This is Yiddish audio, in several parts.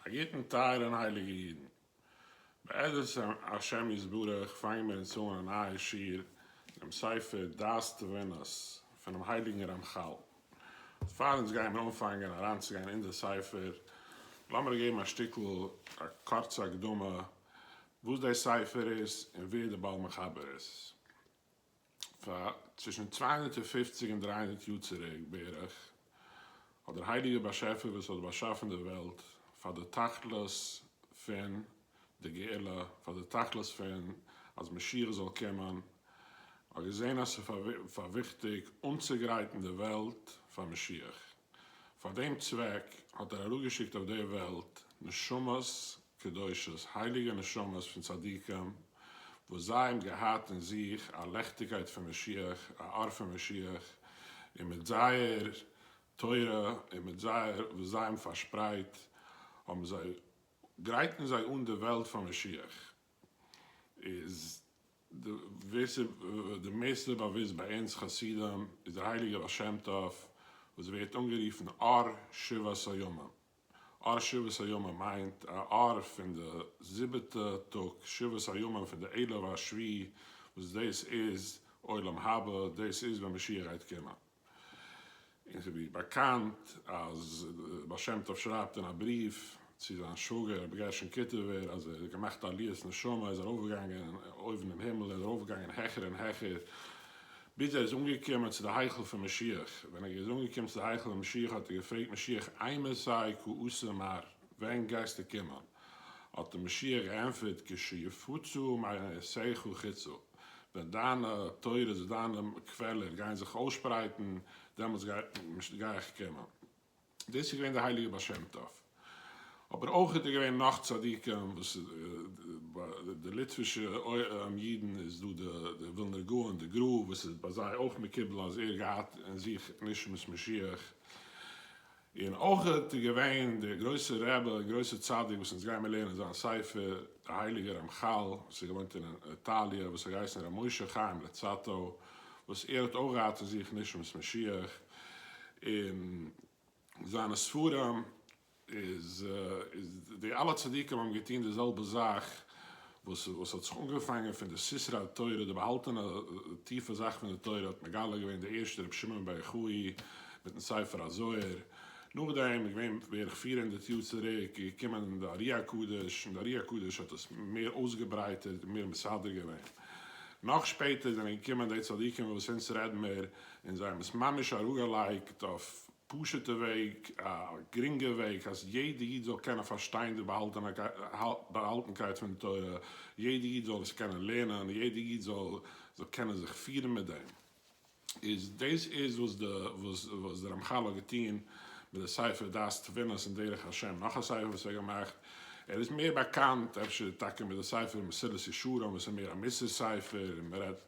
א גוטן טייערע און הייליגע אידן. בעזרת השם יתברך פאנגן מיר אונז אן א נייע שיעור אינעם ספר דעת תבונות פונעם הייליגן רמחל. פאר אונז גייען אנפאנגען אריינצוגיין אין די ספר, לאמיר געבן א שטיקל א קורצע הקדמה וואס די ספר איז און ווער די בעל מחבר איז. פאר צווישן צוויי הונדערט און פֿופֿציק און דרײַ הונדערט יאר צוריק בערך, האט דער הייליגער באשעפער וואס האט באשאפן די וועלט פאר די תכלית פון די גאולה, פאר די תכלית פון אז משיח זאל קומען, האט געזען אז ס'איז פאר וויכטיג אנצוגרייטן די וועלט פאר משיח. פאר דעם צוועק האט ער אראפגעשיקט אויף דער וועלט נשמות קדושות, הייליגע נשמות פון צדיקים, וואס זיי האבן געהאט אין זיך א לעכטיגקייט פון משיח, א אור פון משיח, און מיט זייער תורה און מיט זייער וואס זיי האבן פארשפרייט, האבן זיי גרייטן זיי אן די וועלט פאר משיח. איז די וועסער די מערסטע באוויסט ביי אונז חסידים איז דער הייליגער בעל שם טוב וואס ווערט אנגערופן אור שבעת הימים, אור שבעת הימים מיינט א אור פון די זיבעטע טאג, שבעת הימים פון די עלף השביעי וואס דאס איז עולם הבא, דאס איז ווען משיח גייט קומען. און ס'איז ווי באקאנט אז דער בעל שם טוב שרייבט אין א בריוו צו זיין שוואגער רבי גרשון קיטובער אז ער האט געמאכט א עליית נשמה, ער איז ארויפגעגאנגען אויבן אין הימל, ער איז ארויפגעגאנגען העכער און העכער, ביז ער איז אנגעקומען צו די היכל פון משיח, ווען ער איז אנגעקומען צו די היכל פון משיח האט ער געפרעגט משיח איימער סיי כ עשה מר, ווען גייסטו קומען? האט אים משיח געענטפערט כשיפוצו מעשיך חיצו. ווען דיינע תורות, דיינע קוועלער גייען זיך אויסשפרייטן, דעמאלטס גיי איך קומען. דאס איז געווען דער הייליגער בעל שם טוב. אבער אויך איז דא געווען נאך צדיקים וואס ביי די ליטווישע אידן איז דא דער ווילנער גאון די גרא וואס איז ביי זיי אויך מקובל אז ער געהאט אין זיך נשמת משיח. און אויך איז געווען דער גרויסער רבי און גרויסער צדיק וואס אונז גיימער לערנען זיין ספר, דער הייליגער רמחל וואס האט געוואוינט אין איטאליע, וואס האט געהייסן ר' משה חיים לוצאטו, וואס ער האט אויך געהאט אין זיך נשמת משיח, און זיינע ספרים איז איז די אלע צדיקים האבן געטון די זעלבע זאך וואס וואס האט זיך אנגעפאנגען פון די ספרי התורה, די באהאלטענע טיפע זאכן פון די תורה האט מגלה געווען דער ערשטער רבי שמעון בר יוחאי מיטן ספר הזוהר, נאכדעם איז געווען בערך פֿיר הונדערט יאר צוריק איז געקומען די ארי הקדוש און די ארי הקדוש האט עס מער אויסגעברייטערט און מער מסדר געווען, נאך שפעטער זענען געקומען די צדיקים וואס אונז רעדן מיר און זיי האבן עס ממש אראפגעלייגט אויף פשוטע וועג, א גרינגע וועג, אז יעדע איד זאל קענען פארשטיין די באהאלטענקייט פון די תורה, יעדע איד זאל עס קענען לערנען, יעדע איד זאל זאל קענען זיך פירן מיט דעם, איז דאס איז וואס די וואס די רמחל האט געטון מיט די ספר דעת תבונות און דרך השם, נאך א ספר וואס ער האט געמאכט, ער איז מער באקאנט אפשר טאקע מיט די ספר מסילת ישרים וואס איז מער א מוסר ספר און מען רעדט.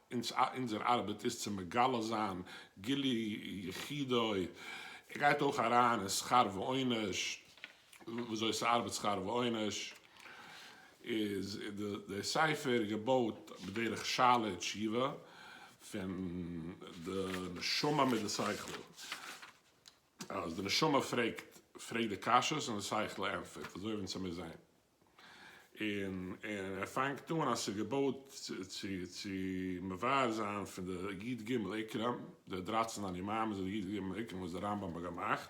אונזער ארבעט איז צו מגלה זיין גילוי יחידו, ער גייט אויך אריין אין שכר ועונש, וויאזוי ס'ארבעט שכר ועונש, איז די ספר געבויט בדרך שאלה ותשובה, פון די נשמה מיט די שכל, אז די נשמה פרעגט פרעגט די קשיות און די שכל ענטפערט, אזוי ווען צו מיר זעהן. און און ער פאנגט אן אז ס'איז געבויט צו צו מבאר זיין פון די י ג עיקרים, די דרײַצן אני מאמין זענען די י ג עיקרים וואס דער רמב ם האט געמאכט,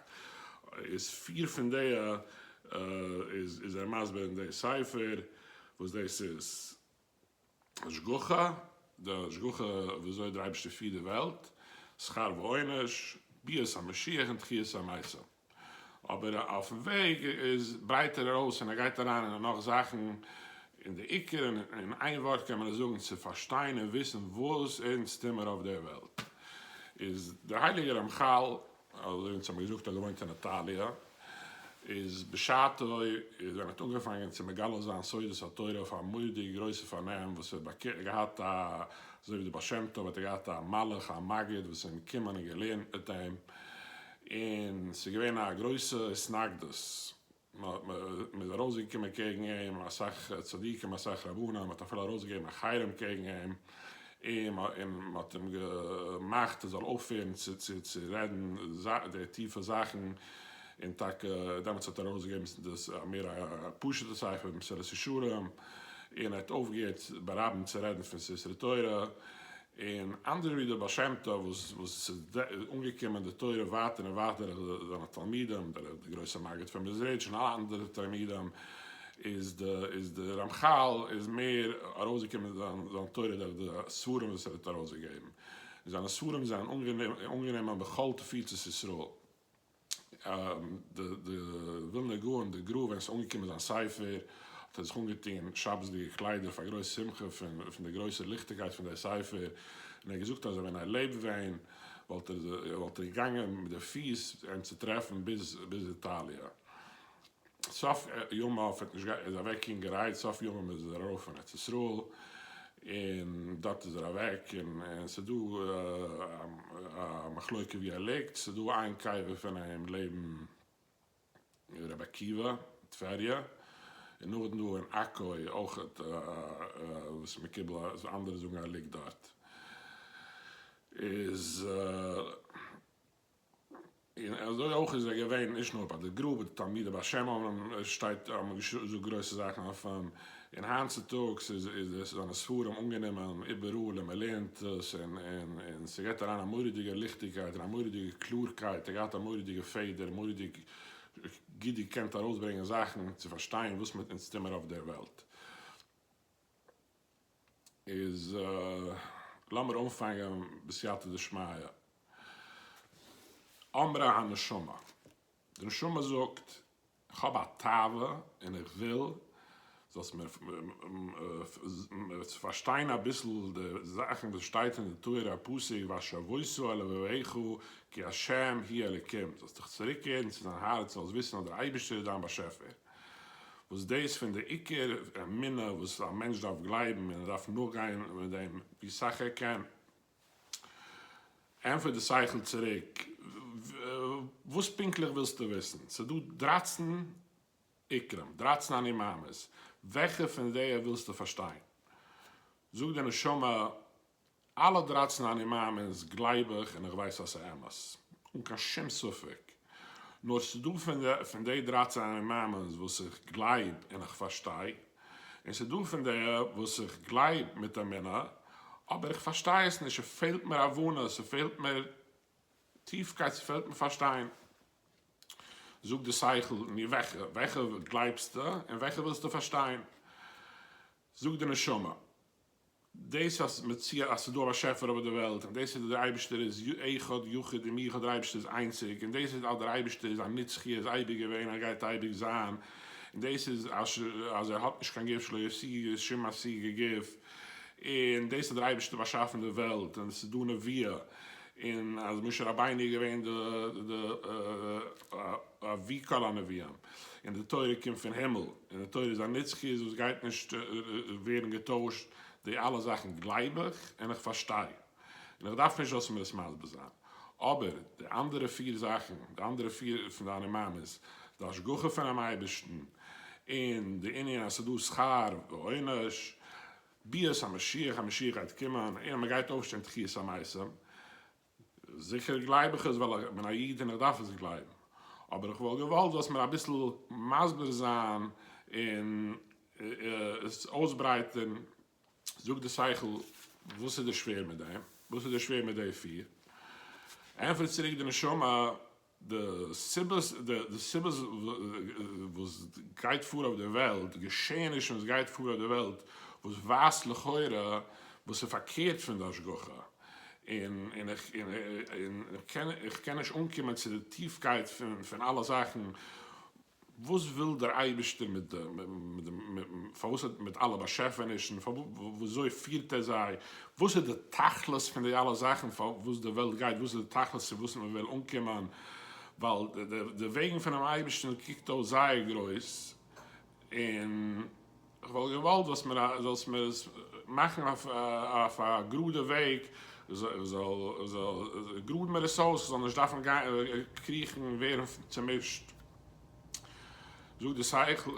איז פיר פון די איז ער מסביר אין די ספר וואס דאס איז. השגחה, די השגחה ווי אזוי דער אייבערשטער פירט די וועלט, שכר ועונש, ביאת המשיח און תחיית המתים. אבער אויפן וועג איז ברייטער ארויס און ער גייט אריין אין נאך זאכן, און דער עיקר און אין איין ווארט קען מען עס זאגן, צו פארשטיין און וויסן וואס אונז טוהן מיר אויף דער וועלט, איז דער הייליגער רמחל אזוי ווי אונז האבן געזאגט האט געוואוינט אין איטאליע, איז בשעתו איז ווען ער האט אנגעפאנגען צו מגלה זיין סודות התורה אויף א מורא'דיג גרויסע פארנעם וואס ער האט געהאט א אזוי ווי די בעל שם טוב האט ער געהאט א מלאך א מגיד וואס איז געקומען און געלערנט מיט אים און ס'איז געווען א גרויסע התנגדות מ'איז ארויסגעקומען קעגן אים, אסאך צדיקים אסאך רבנים, מ'האט אפילו ארויסגעגעבן א חרם קעגן אים, און מ'האט אים געמאכט ער זאל אויפהערן צו רעדן די טיפע זאכן, און טאקע דעמאלטס האט ער ארויסגעגעבן דאס מער א פשוט'ע ספר מסילת ישרים, און ער האט אויפגעהערט ברבים צו רעדן פון ספרי תורה, און אנדערע ווי דער בעל שם טוב וואס וואס ס'איז אנגעקומען די תורה ווייטער און ווייטער דורך זיינע תלמידים, דורך די גרויסע מגיד פון מעזריטש און אלע אנדערע תלמידים, איז די איז די רמחל איז מער ארויסגעקומען זיין זיין תורה דורך די ספרים וואס ער האט ארויסגעגעבן, און זיינע ספרים זענען אנגענומען בכל תפוצות ישראל. די ווילנער גאון די גרא ווען עס איז אנגעקומען זיין ספר האט ער זיך אנגעטון שבת'דיגע קליידער פאר גרויס שמחה פון די גרויסע ליכטיגקייט פון דער ספר און ער האט געזאגט אז ווען ער לעבט ווען וואלט ער געגאנגען מיט די פיס אים צו טרעפן ביז איטאליע. סוף ימיו האט נישט געהאט, ער איז אוועק אינגערהייט, סוף ימיו איז ער ארויף פון ארץ ישראל, און דארט איז ער אוועק, און ס'איז דא א מחלוקה ווי ער ליגט, ס'איז דא איין קבר פון אים לעבן רבי עקיבא, טבריה, און נאכדעם דא אין עכו אויכעט וואס איז מקובל אז אנדערע זאגן אז ער ליגט דארט, איז. און אזוי אויך איז ער געווען נישט נאר ביי די גרא ווי די תלמידי בעל שם אומרים שטייט אז מ'האט געזאגט גרויסע זאכן אויף אים, און היינט צוטאגס איז איז זיינע ספרים אנגענומען איבעראל און מ'לערנט עס און און און ס'געט אריין א מורא'דיגע ליכטיגקייט און א מורא'דיגע קלארקייט, ער געהאט א מורא'דיגע פעדער, מורא'דיג גוט געקענט ארויסברענגען זאכן צו פארשטיין וואס מיט אונז טומער אויף דער וועלט. איז לאמיר אנפאנגען בסייעתא דשמיא. אמרה הנשמה, די נשמה זאגט, איך האב א תאווה און איך וויל זאלסט מיר פארשטיין אביסל די זאכן וואס שטייט אין די תורה, א פסוק והשבותו אל לבביך כי ה' היא אלקים, זאלסט דיך צוריקקערן צו דיין הארץ, זאלסט וויסן אז דער אייבערשטער איז דיין באשעפער. וואס דאס פון די עיקר אמונה וואס א מענטש דארף גלייבן און ער דארף נאכגיין מיט דעם ווי סאך ער קען, ענטפערט די שכל צוריק, וואס פונקטליך ווילסטו וויסן? ס'דא דרייצן עיקרים, דרייצן אני מאמין'ס, וועלכע פון זיי ווילסטו פארשטיין? זאגט די נשמה, אלע דרייצן אני מאמין'ס גלייב איך און איך ווייס אז ס'איז אמת, אן קיין שום ספק, נאר ס'איז דא פון די דרייצן אני מאמין'ס וואס איך גלייב און איך פארשטיי, און ס'איז דא פון די וואס איך גלייב מיט אמונה, אבער איך פארשטיי עס נישט, ס'פעלט מיר הבנה, ס'פעלט מיר טיפקייט, ס'פעלט מיר פארשטיין. זאג די שכל, נו וועלכע? וועלכע גלייבסטו און וועלכע ווילסטו פארשטיין? זאג די נשמה. דאס אז מ'צי אז ס'איז דא א באשעפער אויף די וועלט און דאס איז דער אייבישטער איז י אחד יחיד און מיוחד דער אייבישטער איז איינציג און דאס איז אז דער אייבישטער איז א נצחי ער איז אייביג געווען ער גייט אייביג זיין און דאס איז אז ש אז ער האט נישט קיין גוף שלא ישיג שום משיג גוף און דאס אז דער אייבישטער האט באשאפן די וועלט און עס איז דא נביאה און אז משה רבינו איז געווען די די אבי כל הנביאים. און די תורה קומט פון הימל, און די תורה איז א נצחיות וואס גייט נישט ווערן געטוישט, די אלע זאכן גלייב איך און איך פארשטיי, און איך דארף נישט זאלסט מיר עס מסביר זיין, אבער די אנדערע פיר זאכן, די אנדערע פיר פון דיינע מאמעס, די השגחה פונעם אייבערשטן, און די ענין אז ס'איז דא שכר ועונש, ביאת המשיח, המשיח גייט קומען, און מ'גייט אויפשטיין תחיית המתים, זיכער גלייב איך עס ווייל איך בין א איד און איך דארף עס גלייבן, אבער איך וואלט געוואלט זאלסט מיר אביסל מסביר זיין און עס אויסברייטערן, זאגט די שכל, וואס איז דיר שווער מיט דעם? וואס איז דיר שווער מיט די פיר? ענטפערט צוריק די נשמה. די סיבות די סיבות וואס גייט פאר אויף דער וועלט, די געשעענישן וואס גייט פאר אויף דער וועלט, וואס ווייזט לכאורה וואס איז פארקערט פון די השגחה, און און איך און איך קען נישט אנקומען צו די טיפקייט פון אלע זאכן, וואס וויל דער אייבערשטער מיט די, מיט די, פארוואס האט, מיט אלע באשעפענישן, וויאזוי פירט ער זיי, וואס איז די תכלית פון די אלע זאכן פארוואס די וועלט גייט, וואס איז די תכלית צו וואס מען וויל אנקומען, ווייל די וועגן פונעם אייבערשטן קוקט אויס זייער גרויס, און. כ'וואלט געוואלט זאלסט מיר זאלסט מיר עס מאכן אויף א גראדע וועג, זאל גראד מיר עס אויס, כ'זאל נישט דארפן קריכן ווערן צומישט. זאגט די שכל,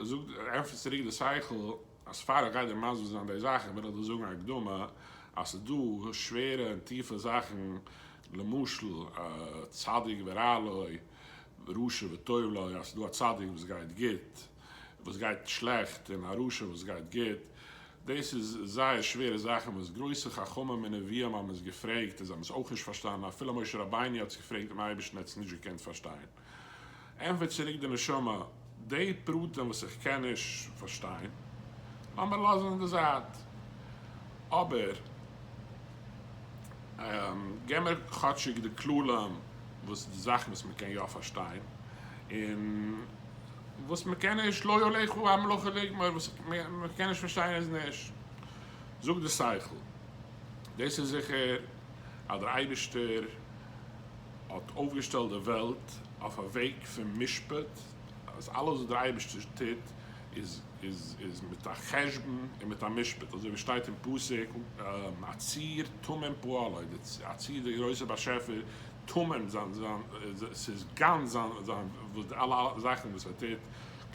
ענטפערט צוריק די שכל, אז פאר איך גיי דיר מסביר זיין די זאכן וויל איך דיר זאגן א הקדמה, אז ס'איז דא שווערע און טיפע זאכן, למשל צדיק ורע לו, רשע וטוב לו, אז ס'איז דא א צדיק וואס גייט גוט, וואס גייט שלעכט און א רשע וואס גייט גוט, דאס איז זייער שווערע זאכן וואס גרויסע חכמים און נביאים האבן עס געפרעגט און זיי האבן עס אויך נישט פארשטאנען, אפילו משה רבינו האט עס געפרעגט דעם אייבערשטן ער האט עס נישט געקענט פארשטיין. ענטפערט צוריק די נשמה, די פרטים וואס איך קען נישט פארשטיין לאמיר לאזן אין די זייט, אבער. גיי מיר כאטשיג די כללים וואס די זאכן וואס מען קען יא פארשטיין און וואס מען קען נישט לא יוליכו המלאכה לגמור וואס מען קען נישט פארשטיין איז נישט זאגט די שכל דאס איז זיכער אז דער אייבערשטער האט אויפגעשטעלט די וועלט אויף א וועג פון משפט אז אלעס וואס דער אייבערשטער טוט איז מיט א חשבון און מיט א משפט, אזוי ווי שטייט אין פסוק, הציר תמים פועלו, די הציר די גרויסע באשעפער, תמים זיין, ס'איז גאנץ זיין, וואס די אלע זאכן וואס ער טוט,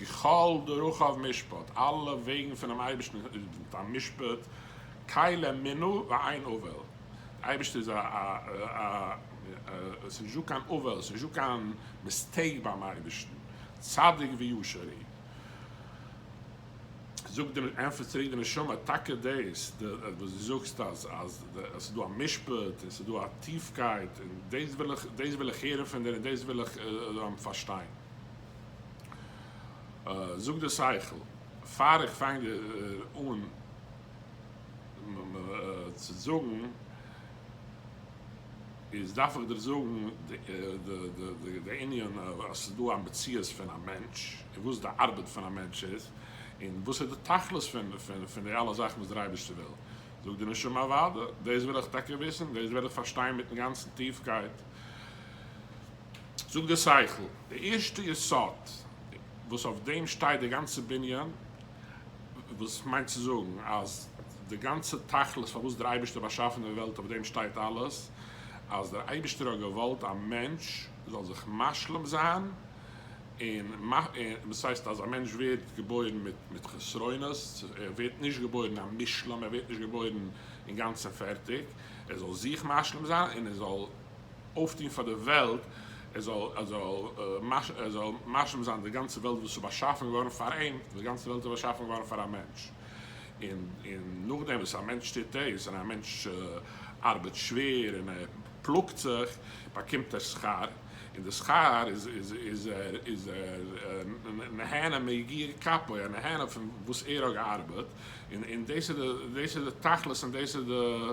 ככל דרכיו משפט, אלע וועגן פונעם אייבערשטן איז מיט א משפט, קאי ליה מינא ואין עוול, די אייבערשטער איז א, ס'איז נישטא קיין עוול, ס'איז נישטא קיין מיסטעיק ביים אייבערשטן, צדיק וישר הוא. זאגט די נ, ענטפערט צוריק די נשמה, טאקע דאס וואס דו זאגסט אז אז ס'איז דא א משפט און ס'איז דא א טיפקייט און דאס וויל איך דאס וויל איך הערן פון דיר און דאס וויל איך פארשטיין. זאגט די שכל, פאר איך פאנג אן צו זאגן. איז דארף איך דיר זאגן די ענין אז ס'איז דא א מציאות פון א מענטש און וואס די ארבעט פון א מענטש איז און וואס איז די תכלית פון די אלע זאכן וואס דער אייבערשטער וויל, זאגט די נשמה אוואדע, דאס וויל איך טאקע וויסן, דאס וויל איך פארשטיין מיטן גאנצן טיפקייט, זאגט דער שכל, די ערשטע יסוד וואס אויף דעם שטייט דער גאנצער בנין, וואס מיינט צו זאגן אז די גאנצע תכלית פארוואס דער אייבערשטער באשאפן די וועלט אויף דעם שטייט אלעס, אז דער אייבערשטער האט געוואלט א מענטש זאל זיך משלים זיין, און וואס הייסט אז א מענטש ווערט געבוירן מיט מיט חסרונות, ער ווערט נישט געבוירן א מושלם, ער ווערט נישט געבוירן אינגאנצן פערטיג, ער זאל זיך משלים זיין און ער זאל אויפטון פאר די וועלט, ער זאל ער זאל ער זאל משלים זיין די גאנצע וועלט וואס איז באשאפן געווארן פאר אים, די גאנצע וועלט איז באשאפן געווארן פאר א מענטש, און און נאכדעם וואס א מענטש טוט דאס, און א מענטש ארבעט שווער און ער פלאגט זיך, באקומט ער שכר, און די שכר איז איז איז ער איז ער נהנה מיגיע כפו, ער איז נהנה פון וואס ער האט געארבעט, און און דאס איז די דאס איז די תכלית און דאס איז די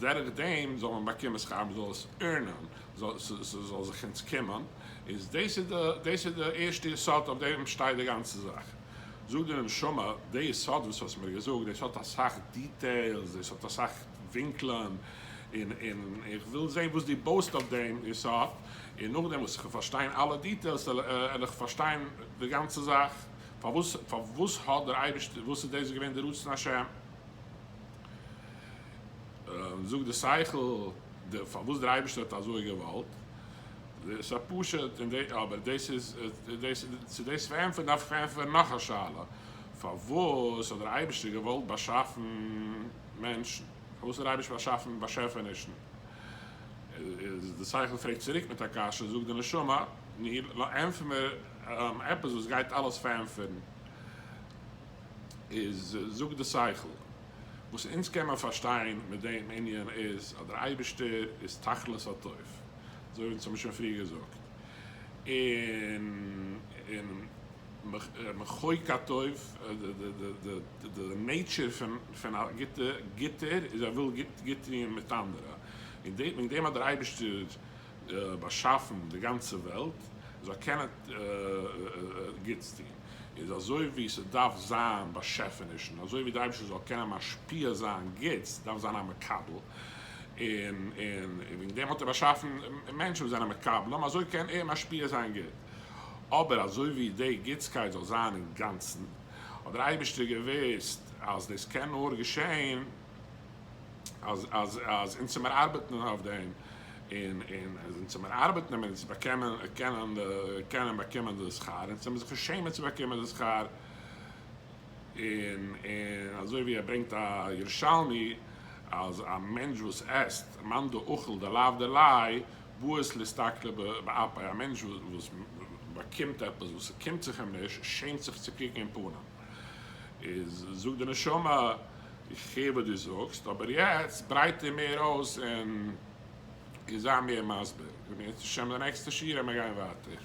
דורך דעם זאל מען באקומען שכר, מען זאל עס ערנען, ס'זאל זיך אונז קומען, איז דאס איז די, דאס איז די ערשטע יסוד אויף דעם שטייט די גאנצע זאך. זאגט די נשמה, די יסוד וואס האסט מיר געזאגט, דאס האט אסאך דיטעילס, דאס האט אסאך ווינקלען, און און איך וויל זען וואס דו בויסט אויף דעם יסוד, און נאכדעם וואס כ'וועל פארשטיין אלע דיטעילס על איך פארשטיין די גאנצע זאך, פארוואס, פארוואס האט דער אייבערשטער, וואס איז דאס געווען די רצון השם. זאגט די שכל פארוואס דער אייבערשטער האט אזוי געוואלט, עס א פשט אין דעם, אבער דאס איז, צו דאס צו ענטפערן דארף איך ענטפערן נאך א שאלה, פארוואס האט דער אייבערשטער געוואלט באשאפן מענטשן, פארוואס האט דער אייבערשטער באשאפן באשעפענישן, איז די שכל פרעגט צוריק מיט א קשיא, זאגט די נשמה, נו, ענטפער מיר עפעס וואס גייט אלעס פארענטפערן. איז זאגט די שכל. וואס אונז קען מען פארשטיין מיט דעם ענין איז אז דער אייבערשטער איז תכלית הטוב, אזוי ווי אונז האבן שוין פריער געזאגט, און און מחוק הטוב, די נעיטשער פון א גוטער איז ער וויל גוט טוען מיט אנדערע, און וועגן דעם האט דער אייבערשטער. באשאפן די גאנצע וועלט זאל קענען גוטס טון, איז אזוי ווי ס'דארף זיין באשעפענישן, אזוי ווי דער אייבערשטער זאל קענען משפיע זיין גוטס דארף זיין א מקבל, און וועגן דעם האט ער באשאפן מענטשן וואס זענען מקבלים, אזוי קען ער משפיע זיין גוט, אבער אזוי ווי די גוטסקייט זאל זיין אינגאנצן האט דער אייבערשטער געוואוסט אז דאס קען נאר געשען אז אונז צו מיר ארבעטן אויף דעם און אונז צו מיר ארבעטן און צו באקומען קענען באקומען די שכר און צו מיר זיך נישט שעמען צו באקומען די שכר און אזוי ווי ער ברענגט א ירושלמי אז א מענטש וואס עסט מאן דאכל דלאו דלאי בועט להסתכלו באפיו א מענטש וואס באקומט עפעס וואס ס'קומט זיך אים נישט שעמט זיך צו קוקן אין פנים. איז זאגט די נשמה איך הער וואס דו זאגסט אבער יעצט ברייטער מער אויס און און זיי מער מסביר און בעזרת השם די נעקסטע שיעור ווען מיר גייען ווייטער.